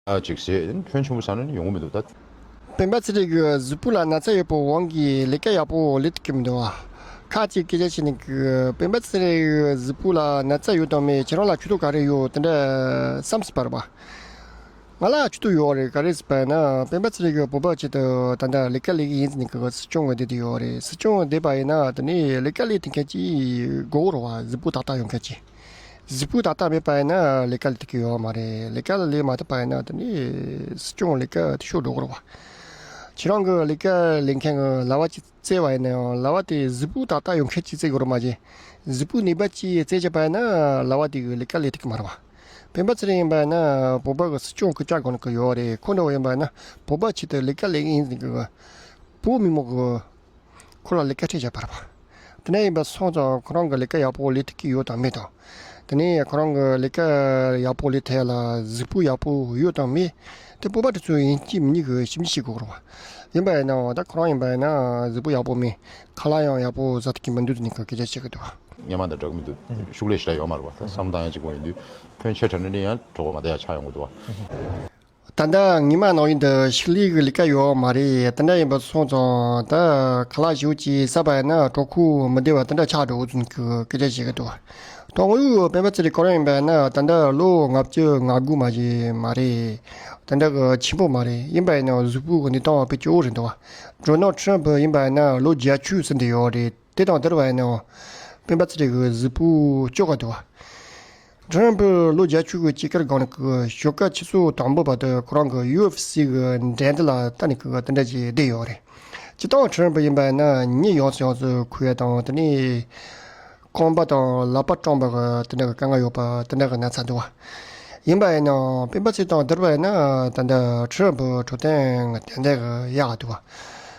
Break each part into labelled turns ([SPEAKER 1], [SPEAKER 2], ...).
[SPEAKER 1] ཅིག་བྱེད། ཁྱོད་ཆུང་བོ་ཆགས་ན་ནི་ཡོང་གི་མི་འདུག་ད། སྤེན་པ་ཚེ་རིང་
[SPEAKER 2] གི་གཟུགས་པོ་ལ་ན་ཚ་ཡོད་པའི་དབང་གིས་ལས་ཀ་ཡག་པོ་ལས་ཐུབ་ཀྱི་མི་འདུག་ཁ་ཅིག་སྐད་ཆ་བཤད་ནས་གི། སྤེན་པ་ཚེ་རིང་གི་གཟུགས་པོ་ལ་ན་ཚ་ཡོད་དང་མེད་ཁྱེད་རང་ལ་ཆུ་ཐུག་ག་རེ་ཡོད་དེ་འདྲ་བསམ་སྲིད་པར་བ། ང་ལ་ཆུ་ཐུག་ཡོད་རེད་ག་རེ་ཟེར་པ་ཡིན་ན་སྤེན་པ་ཚེ་རིང་གི་བུ་ཕ་ཆེད་དུ་ད་ལྟ་ལས་ཀ་ལས་ཀྱི་ཡིན་ཟེར་ནས་གི་སྲིད་སྐྱོང་ངོས་འདོད་དེ་ཡོད་རེད་སྲིད་སྐྱོང་འདོད་པ་ཡིན་ན་དེ་ནས་ལས་ཀ་ལས་ཐུབ་མཁན་གྱི་མགོ་བོར་བ་གཟུགས་པོ་ཏག་ཏག་ཡོད་མཁན་གྱི། གཟིགས་སྤུས་དག་ལྟ་མེད་པ་ཡིན་ན་ལས་ཀ་ལས་ཐུབ་ཀྱི་ཡོད་མ་རེད། ལས་ཀ་ལས་མ་ཐུབ་པ་ཡིན་ན་དེ་ནི་སྲིད་སྐྱོང་ལས་ཀ་དེ་ཤོག་སྒྲོ་སྐོར་བ། ཁྱེད་རང་གི་ལས་ཀ་ལས་མཁན་གྱི་ལྭ་བ་གཅིག་བཙལ་བ་ཡིན་ན་ཡང་ལྭ་བ་དེ་གཟིགས་སྤུས་དག་ལྟ་ཡོང་མཁན་གཅིག་བཙལ་དགོས་རོགས་མ་བྱེད། གཟིགས་སྤུས་ནུས་པ་གཅིག་བཙལ་བྱས་པ་ཡིན་ན་ལྭ་བ་དེ་གི་ལས་ཀ་ལས་ཐུབ་ཀྱི་མ་རེད་བ། སྤེན་པ་ཚེ་རིང་ཡིན་པ་ཡིན་ན་བོད་པ་གི་སྲིད་སྐྱོང་གི་སྐྱག་དགོན་གྱི་ཡོད་རེད་ཁོ་འདྲ་བོ་ཡིན་པ་ཡིན་ན་བོད་པ་ཆེད་དུ་ལས་ཀ་ལས་ཨིན་ཟིན་གྱི་བོད་མི་མང་གི། ཁོ་ལ་ལས་ཀ་ཁྲིད་བྱས་པར། དེ་ནས་ཡིན་པ་སོང་ཙང་ཁོ་རང་གི་ལས་ཀ་ཡག་པོ་ལས་ཐུབ་ཀྱི་ཡོད་དང་མེད་དང། དེ་ནས་ཁོ་རང་གི་ལས་ཀ་ཡག་པོ་ལས་ཐད་ལ་གཟིགས་སྤོ་ཡག་པོ་ཡོད་དང་མེད་དེ་སྤོབས་པ་དེ་ཚོ་ཡིན་གཅིག་མིན་གཉིས་ཀྱི་ཞིབ་འཇུག་བྱེད་དགོས་རུང། ཡིན་པ་ཡིན་ནའང་ད་ཁོ་རང་ཡིན་པ་ཡིན་ན་གཟིགས་སྤོ་ཡག་པོ་མིན་ཁ་ལག་ཡང་ཡག་པོ་བཟའ་ཐུབ་ཀྱི་མི་འདུག་དེ་ནི་གོ་སྐལ་ཆ་བྱེད་ཀྱི་འདུག། སྙན་མ་དང་འདྲ་གི་མི་
[SPEAKER 1] འདུག་ཤུགས་ལས་ཞེ་དྲག་ཡོད་མ་རེད་བ་ད་བསམ་བཏང་ཡང་གཅིག་པོ་ཡིན་དུས་ཕོན་ཆེ་དྲག་ནས་ནི་ཡང་གྲོགས་པོ་མ་དེ་ཡང་ཆགས་ཡོང་གི་འདུག་བ། ད་
[SPEAKER 2] ལྟ་ངའི་མ་ནང་ཡུལ་འདི་ཞིག་ལས་ཀྱི་ལས་ཀ་ཡོད་མ་རེད་དེ་འདྲ་ཡིན་པ་སོང་ཙང་ད་ག་ལ་ཞུགས་ཅེས་བསམ་པ་ཡིན་ན་གྲོགས་ཁོ་མི་བདེ་བ་དེ་འདྲ་ཆགས་འགྲོ་འུ་ཚོ་ཁྱོད་སྐད་ཆ་བཤད་གི་འདུག་གྲོགས་ངོ་ཡུག་སྤེན་པ་ཚེ་རིང་ག་རང་ཡིན་པ་ཡིན་ན་ད་ལྟ་ལོ་ལྔ་བཅུ་ང་དགུ་མ་ཞིག་མ་རེད་དེ་འདྲ་གི་ཆེན་པོ་མ་རེད་ཡིན་པ་ཡིན་ན་གཟུགས་པོ་གི་གནས་སྟངས་བེད་སྤྱོད་འོ་རེད་འདུག་ཇོ་ནང་ཁྲིན་བྷི་ཡིན་པ་ཡིན་ན་ལོ་བརྒྱད་ཅུ་ཟིན་དུ་ཡོད་རེད། དེ་དང་དེར་བར་ནའོ། སྤེན་པ་ཚེ་རིང་གི་གཟུགས་པོ་ལྕོག་ག་དུ་བ། དྲི་རན་པོས་ལོ་བརྒྱ་ཆུ་བོའི་དཔྱིད་ཀར་སྒང་ནས་ཁུ་བཞོ་ཀ་ཆུ་ཚོད་དང་པོ་བར་དུ་ཁོ་རང་གི་ཡུའུ་ཨེཕ་སི་གི་འགྲན་བསྡུར་ལ་ལྟ་ནས་ཁུ་བ་དེ་འདྲ་ཞིག་བསྡད་ཡོད་རེད། ཇི་ལྟར་དྲི་རན་པོ་ཡིན་པ་ན་ཉིད་ཡོངས་སུ་ཡོངས་སུ་ཁུ་བ་དང་དེ་ནས་ཁང་པ་དང་ལག་པ་སྐྲངས་པ་དེ་འདྲ་གི་དཀའ་ངལ་ཡོད་པ་དེ་འདྲ་གི་ན་ཚ་དུ་བ། ཡིན་པ་ཡིན་ནའང་སྤེན་པ་ཚེ་དང་དེར་བར་ན་ད་ལྟ་དྲི་རན་པོ་གྲོ་དན་གྱི་དན་དན་གི་གཡག་ག་དུ་བ།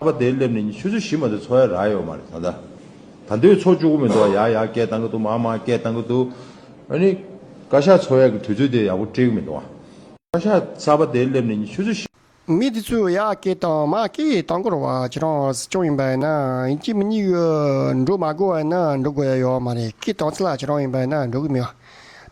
[SPEAKER 2] ཨ་ཕ་དེའི་སླེབས་
[SPEAKER 3] ནས་ཆུ་ཚོད་བཞི་མ་ཚོད་འཚོ་ཡ་རག་ཡོད་མ་རེད་ད་ལྟ། ད་འདོད་འཚོ་བཅུག་གོ་མི་འདུག་ཡ་ཡ་སྐད་བཏང་གི་འདུག་མ་མ་སྐད་བཏང་གི་འདུག། ཨ་ནི། བཀའ་ཤག་འཚོ་ཡ་གི་དུས་ཚོད་དེ་ཡག་པོ་སྤྲད་གི་མི་འདུག་ཨ། བཀའ་ཤག་ས་ཨ་ཕ་དེའི་སླེབས་ནས་ཆུ་ཚོད་བཞི། མི་དེ་ཚོས་ཡ་
[SPEAKER 2] སྐད་བཏང་མ་སྐད་བཏང་གོ་རོགས་བ་ཁྱེད་རང་སྲིད་སྐྱོང་ཡིན་པ་ཡིན་ན་ཡིན་གྱི་མི་གཉིས་ཡོད་འགྲོ་མ་གོ་བ་ཡིན་ན་འགྲོ་དགོས་ཡ་ཡོད་མ་རེད་སྐད་བཏང་ཚེ་ལ་ཁྱེད་རང་ཡིན་པ་ཡིན་ན་འགྲོ་གི་མི་ཡོད།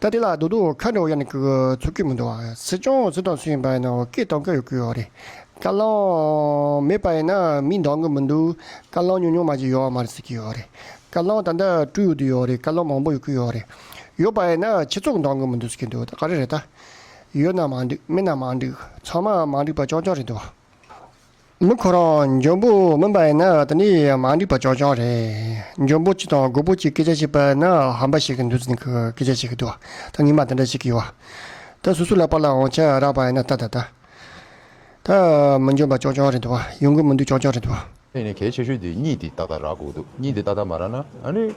[SPEAKER 2] ད་དེ་ལ་རྡོ་རྡོ་ཁ་འདྲ་བོ་ཡང་ནི་ཁུ་ཚུར་ཁུར་མི་འདུག་བ། སྲིད་སྐྱོང་སུ་དང་སུ་ཡིན་པ་ཡིན་ན་བོད་སྐད་གཏོང་གི་ཡོད་ཁུལ་ཡོད་རེད། བཀའ་བློན་མེད་པ་ཡིན་ན་མིས་འདང་གི་མི་འདུག་བཀའ་བློན་ཉུང་ཉུང་མ་གཅིག་ཡོད་མ་རེད་ཟེར་གྱི་ཡོད་རེད། བཀའ་བློན་ད་ལྟ་སྤྲུལ་ཡོད་དུ་ཡོད་རེད་བཀའ་བློན་མང་པོ་ཡོད་ཁུལ་ཡོད་རེད། ཡོད་པ་ཡིན་ན་ཁྱེད་ཚོ་འདང་གི་མི་འདུག་ཟེར་གྱི་འདུག་ད་ག་རེ་རེད་ད། ཡོད་ན་མ་འགྲིག་མེད་ན་མ་འགྲིག་ཚང་མ་མ་འགྲིག་པ་ཅོང་ཅོང་རེད་འདུག་བ། མི་ཁོ་རང་འཇོན་པོ་མིན་པ་ཡིན་ན་དེ་ནི་མ་འགྲིག་པ་ཅོག་ཅོག་རེད། འཇོན་པོ་གཅིག་དང་རྒོད་པོ་གཅིག་སྐད་ཆ་བཤད་པ་ཡིན་ན་ཧམ་པ་ཞིག་གི་འདུ་འཛི་གི་སྐད་ཆ་ཞིག་གི་འདུག་ད་ཉི་མ་དེ་འདྲ་ཞིག་གི་ཡོད། ད་སུ་སུ་ལ་པར་ལ་འོང་ཆ་རག་པ་ཡིན་ན་ད་ད་ད། ད་མི་འཇོན་པ་ཅོག་ཅོག་རེད་འདུག་ཡོང་གི་མི་འདུག་ཅོག་ཅོག་རེད་འདུག། ཨ་ནི་གལ་ཆེ་ཤོས་
[SPEAKER 1] དེ་གཉིད་དེ་ཏག་ཏག་རག་དགོས་འདུག་གཉིད་དེ་ཏག་ཏག་མ་རག་ན་ཨ་ནི།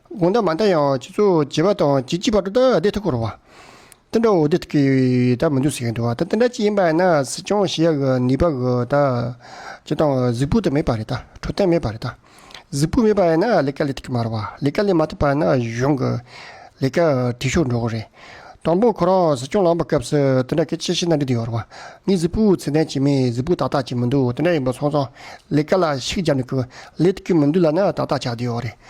[SPEAKER 2] དགོངས་དག་མ་མཐའ་ཡང་སྤྱི་ཚོགས་བྱེ་བ་དང་བྱེ་གཅིག་བར་དུ་ཐ་དད་ཐུགས་ཁུར་བ། དེ་འདྲ་བོ་དེ་ཐུགས་ཀྱི་དག་མི་འདུག་ཟེར་གྱིན་འདུག་བ་ད་དེ་འདྲ་ཅིག་ཡིན་པ་ཡིན་ན་སྲིད་སྐྱོང་ཞེས་ཡག་གི་ནུས་པ་གི་ད་ཇི་ལྟ་བུ་གཟིགས་སྤུ་དེ་མེད་པ་རེད་ད་འཕྲོད་བསྟེན་མེད་པ་རེད་ད་གཟིགས་སྤུ་མེད་པ་ཡིན་ན་ལས་ཀ་ལས་ཐུབ་ཀྱི་མ་རེད་བ་ལས་ཀ་ལས་མ་ཐུབ་པ་ཡིན་ན་གཞུང་གི་ལས་ཀ་དྲི་ཤོག་འགྲོ་གི་རེད། དང་པོ་ཁོ་རང་སྲིད་སྐྱོང་ལངས་པ་སྐབས་སུ་དེ་འདྲ་སྐད་ཆ་ཤི་ན་འགྲིག་འདུག་ཡོད་རེད་བ་ངས་གཟིགས་སྤུ་ཚད་ལྡན་བྱེད་མིན་གཟིགས་སྤུ་ཏག་ཏག་བྱེད་མི་འདུག་དེ་འདྲ་ཡིན་པ་སོང་ཙང་ལས་ཀ་ལ་ཤུགས་རྒྱབ་ནས་ཁུ་ལས་ཐུབ་ཀྱི་མི་འདུག་ལབ་ན་ཏག་ཏག་བྱ་འདི་ཡོད་རེད།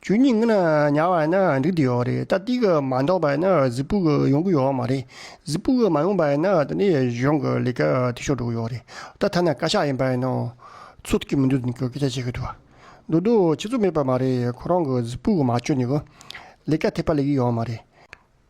[SPEAKER 2] ཆོས་ཉིད་ངན་ཉར་བ་ནི་འགྲིག་དེ་ཡོད་རེད་ད་ཏིག་མ་འདོགས་པ་ནི་གཟིག་ཕུག་ཡོང་གི་ཡོད་མ་རེད་གཟིག་ཕུག་མ་ཡོང་པ་ནི་ད་ནི་གཞུང་གི་ལས་ཀ་འཐུས་ཤོར་འགྲོ་གི་ཡོད་རེད་ད་ཐ་ན་བཀའ་ཤག་ཡིན་པ་ནི་ཚུར་ཐུག་གི་མི་འདུག་ཟེར་ནས་སྐད་ཆ་བཤད་གི་འདུག་འདུག་འདུག་ཁྱེད་ཚོ་མེད་པ་མ་རེད་ཁོ་རང་གི་གཟིག་ཕུག་མ་བཅོས་ནས་གི་ལས་ཀ་ཐེག་པ་ལས་གི་ཡོད་མ་རེད།